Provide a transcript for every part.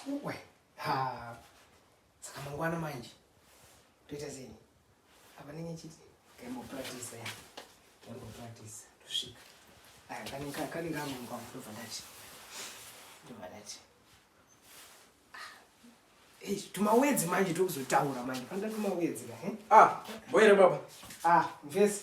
uwe ha saka mangwana manje toita zeni apa nenge chiti kembo practice ya kembo practice tusvika aya kani kani kama mwa mfundo vandachi ndo vandachi Hey, ah, tumawedzi manje tokuzotaura manje panda tumawedzi ka eh? ah boyere baba ah mvesi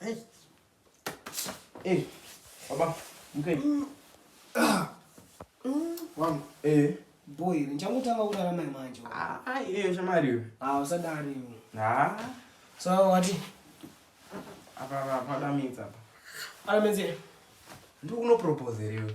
Hey. Hey. Baba, mkei. Mm. Ah. Mm. Wangu. Eh. Boy, ndichangotanga kurarama manje. Ah, ah, eh, shamari. Ah, usadari. Ah. So what? Apa apa pada minza apa. Ala menzie. Ndikuno propose riwe.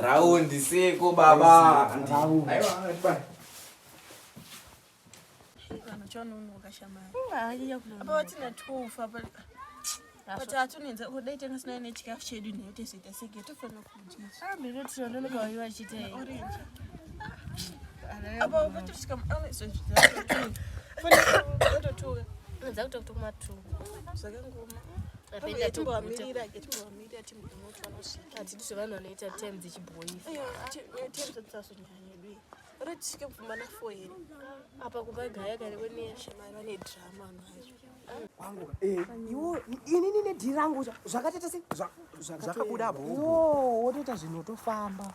raundi seko baba patatuniza kudai tanga sinayo nechikafu chedu nhayo tezoita seke tofanira kudyaaaototuka hatidi zvevanhu vanoita tem dzichiboifaatiasotinyanyedu uri tisvike mupfumba na fo here apa kuba gaya kare kweneyashemai vane drama vanhu vayo inini nedhi rangu zvakateta se zvakabuda bho wotoita zvinhu otofamba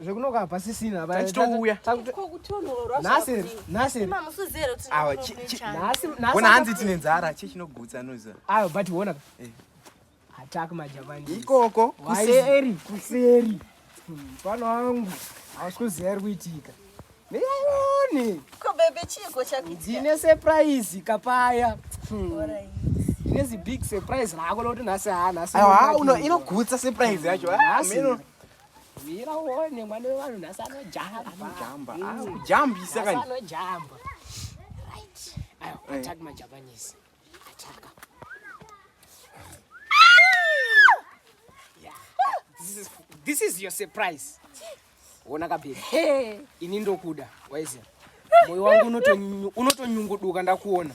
zvekunoka hapasisina tachitouya ona hanzi tine nzara chii chinogutsa noza ayo but wona eh. attack majapani ikoko kuseri kuseri mfana hmm, wangu hausi kuziva iri kuitika neyaione ndine surprise kapaya hmm. ndine zibig surprise rako lokuti nhasi haa ah, nhasi inogutsa surprise yacho ah, Mira uone mwana wevanhu nhasi anojamba. Anojamba. Mm. Ah, kujambisa kani. Anojamba. Right. Ayo, eh. attack my Japanese. Attack. Yeah. This is this is your surprise. Ona kabe. Hey, ini ndokuda. Waize. Moyo wangu unotonyunguduka ndakuona.